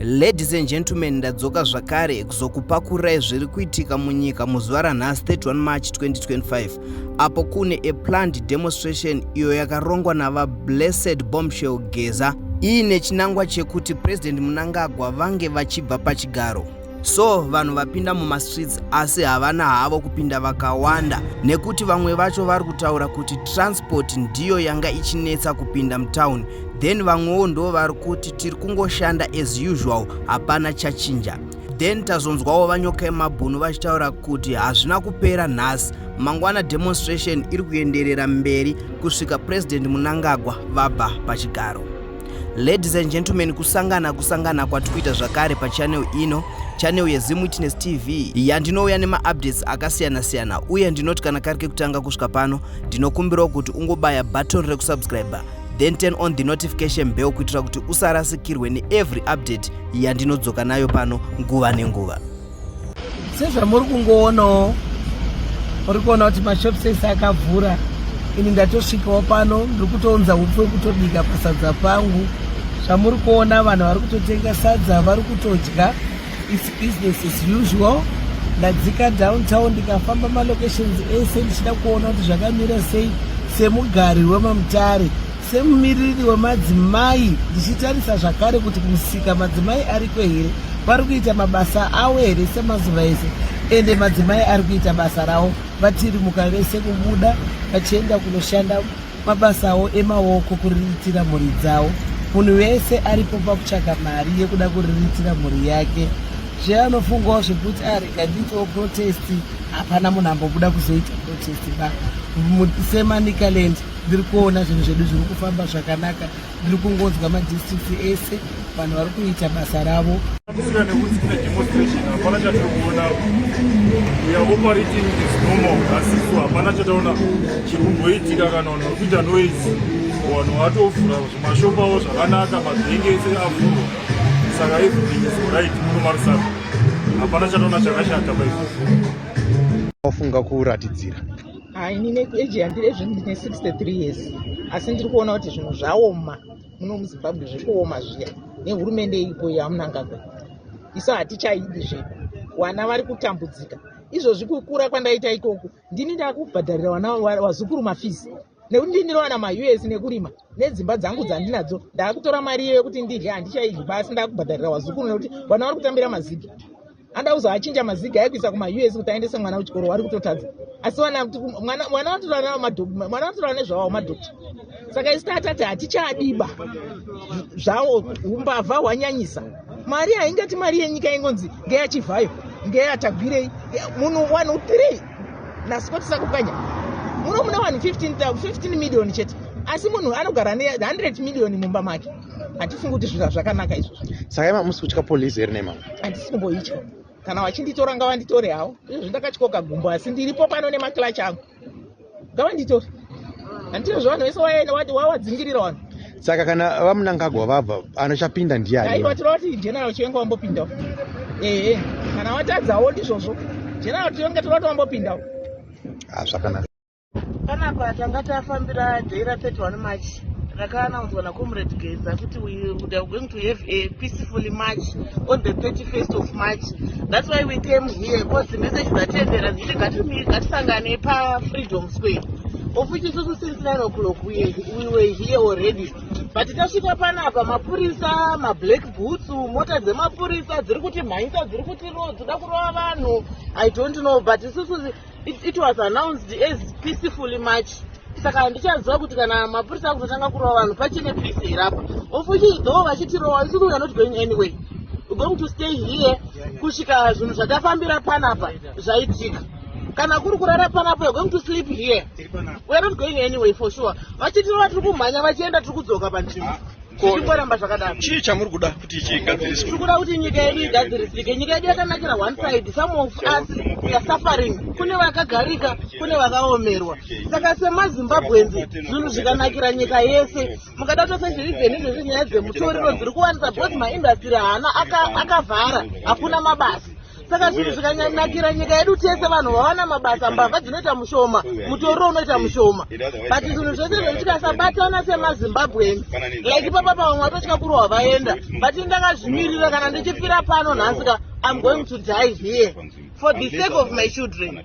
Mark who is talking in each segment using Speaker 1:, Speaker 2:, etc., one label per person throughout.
Speaker 1: Ladies and gentlemen, ndadzoka zvakare kuzokupakurai zviri kuitika munyika muzuva ranhasi 31 March 2025 apo kune a planned demonstration iyo yakarongwa navaBlessed Bombshell Geza iine chinangwa chekuti President Mnangagwa vange vachibva pachigaro. so vanhu vapinda mumastreets asi havana havo kupinda vakawanda nekuti vamwe vacho vari kutaura kuti transport ndiyo yanga ichinetsa kupinda mutown then vamwewo ndo vari kuti tiri kungoshanda as usual hapana chachinja then tazonzwawo vanyoka yemabhunu vachitaura kuti hazvina kupera nhasi mangwana demonstration iri kuenderera mberi kusvika president munangagwa vabva pachigaro Ladies and gentlemen, kusangana kusangana kwatikuita zvakare pachannel ino, channel yeZim Witness TV yandinouya nemaupdates akasiyana siyana uye ndinoti kana kari kekutanga kusvika pano ndinokumbirawo kuti ungobaya button rekusubscriber then turn on the notification bell kuitira kuti usarasikirwe neevery update yandinodzoka nayo pano nguva nenguva.
Speaker 2: sezvamuri kungoonawo muri kuona kuti mashops ese akavhura ini ndatosvikawo pano ndiri kutounza upfu wekutobika pasadza pangu zvamuri kuona vanhu vari kutotenga sadza vari kutodya its business as usual ndadzika downtown ndikafamba malocations ese ndichida kuona kuti zvakamira sei semugari wemamutare Semumiriri wemadzimai ndichitarisa zvakare kuti kumusika madzimai ariko here, vari kuita mabasa avo here semazuva ese, ende madzimai ari kuita basa ravo vatirimuka vese kubuda vachienda kunoshanda mabasa avo emaoko kuriritira mhuri dzavo. Munhu wese aripo pakutsvaga mari yekuda kuriritira mhuri yake zveanofungawo zvekuti arekandiitewo ah, protest hapana munhu ambobuda kuzoita protest ba semanicalent ndiri kuona zvinhu zvedu zviri kufamba zvakanaka ndiri kungonzwa madistricts ese vanhu vari kuita basa ravo kusina nekuti kune demonstration hapana chatiri kuona
Speaker 3: uya operating is normal asisu hapana chataona chiri kumboitika kana vanhu vari kuita noise vanhu vatovhura zvimashopu avo zvakanaka mabhenge ese avhurwa saka everything is right muno marisaka hapana chataona chakashata paizvozvo wafunga
Speaker 4: kuratidzira ha ini
Speaker 5: neage yandiri ezvino ndine 63 years asi ndiri kuona kuti zvinhu zvaoma muno muzimbabwe zviri kuoma zviya nehurumende iripo yamunangagwa isu hatichaidi zvedu vana vari kutambudzika izvozvi kukura kwandaita ikoku ndini ndakubhadharira vana vazukuru mafisi nekuti ndindinovana maus nekurima nedzimba dzangu dzandinadzo ndaakutora mari iyo yekuti ndidye handichaidyi basi ndakubhadharira vazukuru nekuti vana vari kutambira mazigi anoda kuzoachinja maziga aye kuisa kumaus kuti aendese mwana kuchikoro wari kutotadza asi wana kuti mwana vanotorana nezvawo madokta saka isi tatati hatichadiba zvawo umbavha hwanyanyisa mari haingati mari yenyika ingonzi ngeyachivhayo ngeyatagwirei munhu 1 3 nasipotisakukanya muno muna 1 15 million chete asi munhu anogara ne 100 million mumba make hatifungi kuti zvinhu zvakanaka izvozvo saka ima musi kutya
Speaker 4: polisi here nemama handisi kumboitya
Speaker 5: kana vachinditora ngavanditore havo izvozvi ndakatyoka gumbo asi ndiripo pano nemaclachi angu ngavanditore handitire zvavanhu vese wawadzingirira vanhu saka kana
Speaker 4: vamunangagwa vabva anochapinda ndiani aiwa tirova kuti general
Speaker 5: chivenga wambopindawo ehe kana watadzawo ndizvozvo general chivenga tirova kuti wambopindawo hazvakanaka
Speaker 4: ah, panapa
Speaker 2: tanga tafambira day ra 31 march rakaanaudzwa nacomrade geza kuti we would have going to have a peacefully march on the 31st of march that's why we came here because the message dzatendera dziti ngatisangane pafreedom square of which isusu since 9 o'clock we, we were here already but tasvika panapa mapurisa mablack boots mota dzemapurisa dziri kuti mhanyisa dziri kuti ro dzoda kurova vanhu i don't know but isusu It, it was announced as peacefully march saka handichaziva kuti kana mapurisa akutotanga kurova vanhu pachine peace here apa ofuchi though vachitirova isusu weare not going anyway we're going to stay here kusvika zvinhu zvatafambira panapa zvaitika kana kuri kurara panapa we're going to sleep here weare not going anyway for sure vachitirova tiri kumhanya vachienda tiri kudzoka panzvimbo ah. zvichingoramba zvakadaro chii chamuri kuda kuti
Speaker 4: chigadziriswe tiri kuda kuti nyika yedu
Speaker 5: igadzirisike nyika yedu yakanakira one side some of us weare suffering kune vakagarika kune vakaomerwa saka semazimbabweans zvinhu zvikanakira nyika yese mukada tose zvirivheni izvezvi nyaya dzemutoriro dziri kuwanisa bcause maindastry haana akavhara hakuna mabasa saka
Speaker 2: zvinhu zvikanyanakira nyika yedu tese vanhu vawana mabasa mbavha dzinoita mushoma mutoriro unoita mushoma but zvinhu zvese zvedu tikasabatana semazimbabweans like ipapa pavamwe vatotya kurohwa vaenda but ndakazvimirira kana ndichifira pano nhasi ka i'm going to die here for the sake of my children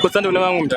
Speaker 6: Kutsandu kune vamwe mntu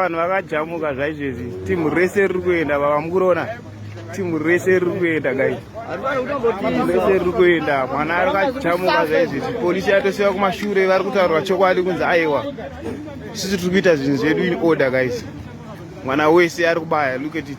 Speaker 6: vanhu vakajamuka zvaizvezvi timu rese riri kuenda vava mukurona timu rese riri kuenda gai rese riri kuenda mwana ari kajamuka zvaizvezvi polisi yatosiva kumashure vari kutaurwa chokwadi kunzi aiwa sisi tiri kuita zvinhu zvedu in order guys mwana wese ari kubaya look at it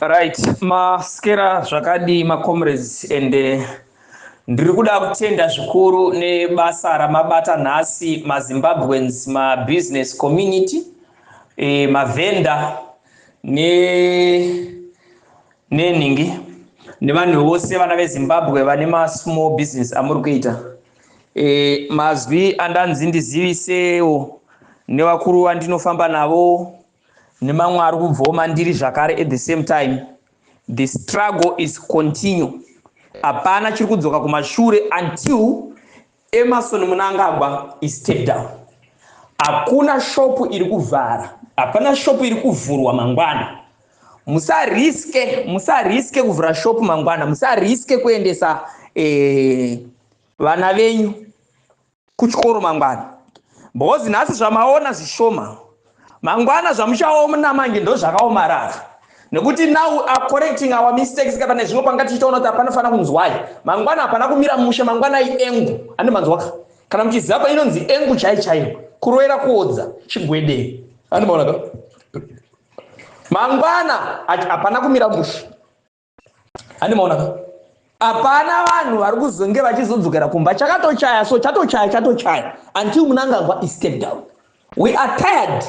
Speaker 7: right maskera zvakadii macomrades and eh, ndiri kuda kutenda zvikuru nebasa ramabata nhasi mazimbabweans mabusiness community eh, mavhenda ne nenhingi nevanhu vose vana vezimbabwe vane masmall business amuri kuita e, mazwi andanzi ndizivisewo nevakuru vandinofamba navo nemamwe ari kubvawo mandiri zvakare at the same time the struggle is continue hapana chiri kudzoka kumashure until Emerson Munangagwa is step down. Hakuna shop iri kuvhara, hapana shop iri kuvhurwa mangwana. Musariske, musariske kuvhura shop mangwana, musariske kuendesa eh, vana venyu kuchikoro mangwana. Because nhasi zvamaona zvishoma. mangwana zvamuchaona manje ndozvakaomarara nekuti now are correcting our mistakes kana nezvimwe panga tichitaona kuti hapana fana kunzwai mangwana hapana kumira mushe mangwanai engu ane manzwaka kana muchiziva painonzi engu chai chaiyo kuroera kuodza chigwedei andimaonaka mangwana hapana kumira mushe handi maona ka hapana vanhu vari kuzonge vachizodzokera kumba chakatochaya so chatochaya chatochaya until munangagwa istep down we are tired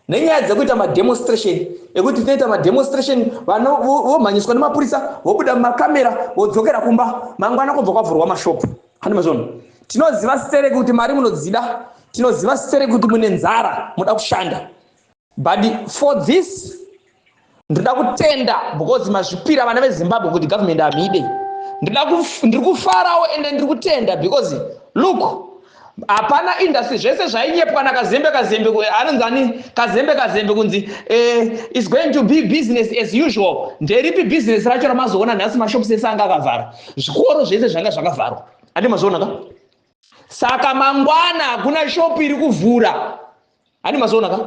Speaker 7: nenyaya dzekuita mademonstration ekuti tinoita mademonstration vana vomhanyiswa nemapurisa vobuda mumakamera vodzokera kumba mangwana kubva kwavhurwa mashopu handi mazvono tinoziva sere kuti mari munodzida tinoziva sere kuti mune nzara muda kushanda but for this ndoda kutenda because mazvipira vana vezimbabwe kuti government hamide ndiri kufarawo ende ndiri kutenda because look hapana industry zvese zvainyepwa nakazembe kazembe anonzi ani kazembe kazembe kunzi eh, is going to be business as usual nderipi business racho ramazoona nhasi mashops ese anga akavhara zvikoro zvese zvanga zvakavharwa andi mazvionaka saka mangwana hakuna shop iri kuvhura Ani mazoona ka?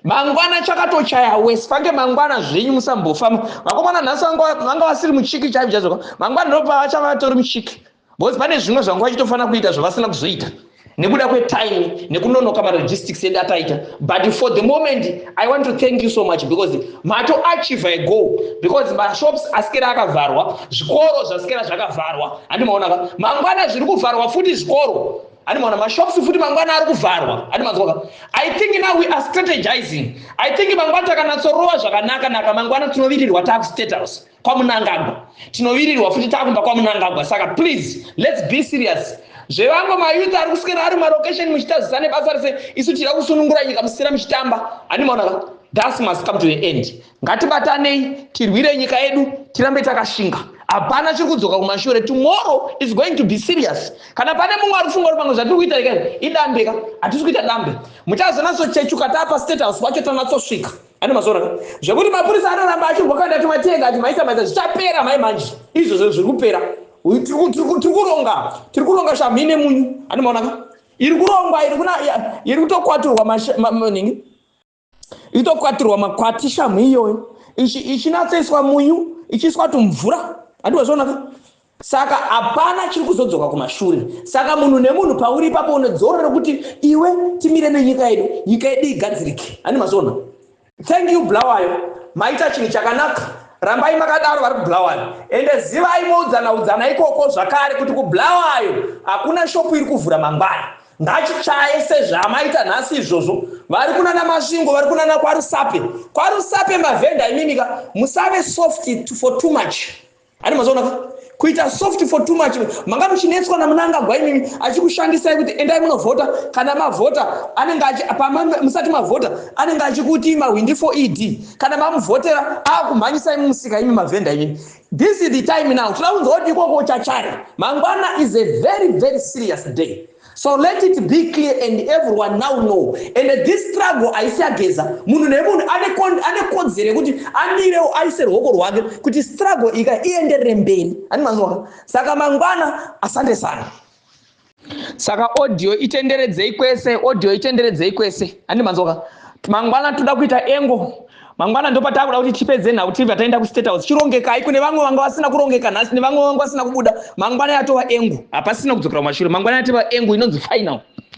Speaker 7: Mangwana chakatochaya wesi fange mangwana zvenyu musambofamba. Vakomana nhasi vanga vasiri muchiki chaivo chaivo. Mangwana ndopa vachava vatori muchiki. Because pane zvimwe zvanga vachitofana kuita zvavasina kuzoita. Nekuda kwe time nekunonoka ma logistics edu ataita. But for the moment I want to thank you so much because mato achieve a goal because ma shops asikera akavharwa, zvikoro zvasikera zvakavharwa. Handi maona ka? Mangwana zviri kuvharwa futi zvikoro. Ani mwana mashops futi mangwana ari kuvharwa. Ani manzwa. I think now we are strategizing. I think mangwana takanatsorowa zvakanaka naka mangwana tinovirirwa taku state house kwa munangagwa. Tinovirirwa futi takumba kwa munangagwa. Saka please let's be serious. Zvevango ma youth ari kuswera ari ma location muchitazisa nebasa rese isu tira kusunungura nyika musina muchitamba. Ani mwana. That's must come to the end. ngatibatanei tirwire nyika yedu tirambe takashinga hapana chiri kudzoka kumashure tomorrow is going to be serious kana pane mumwe ari kufunga kuti pamwe zvatiri kuita rega idambe ka hatisi kuita dambe muchazonatsochechuka taapa state house kwacho tanatsosvika ane mazoona zvekuti mapurisa anoramba achirwakanda timatenga ati maisa maisa zvichapera mai manje izvozvo zviri kupera tiri kuronga tiri kuronga shamhi nemunyu ane maonaka iri kurongwa iri kutokwaturwa nini itokwatirwa makwati shamhu iyoyo ichinatsoiswa munyu ichiiswa tumvura handiwazvonaka saka hapana chiri kuzodzoka kumashure saka munhu nemunhu pauri ipapo une dzoro rekuti iwe timire nenyika yedu nyika yedu igadzirike handi mazona thank you bulawayo maita chinhu chakanaka rambai makadaro vari kubulawayo ende zivai moudzana udzana ikoko zvakare kuti kubulawayo hakuna shopu iri kuvhura mangwana Ngachichaye sezvaamaita nhasi izvozvo. Vari kunana Masvingo, vari kunana kwaRusape. KwaRusape mavhenda imimika, musave soft for too much. Ani mazoona ka? kuita soft for too much manga muchinetswa namunangagwa imimi achikushandisai kuti endai munovhota kana mavhota anenge musati mavhota anenge achikuti mahwindi for ed kana mamuvhotera akumhanyisai mumusika imi mavhenda imimi This is the time now tinoda kunzwa kuti ikoko uchachaya mangwana is a very very serious day so let it be clear and everyone now know and this struggle haisi yageza munhu nemunhu ane kodzero yekuti amirewo aise ruoko rwake kuti struggle ika ienderere mberi ani manzwaka saka mangwana asande sana saka audio itenderedzei kwese audio itenderedzei kwese handi manzoka mangwana toda kuita engo mangwana ndopatakuda kuti tipedze nhau tibva taenda kustate house chirongekai kune vamwe vanga vasina kurongeka nhasi nevamwe vanga vasina kubuda mangwana yatova engu hapasina kudzokera kumashure mangwana yatova engu inonzi final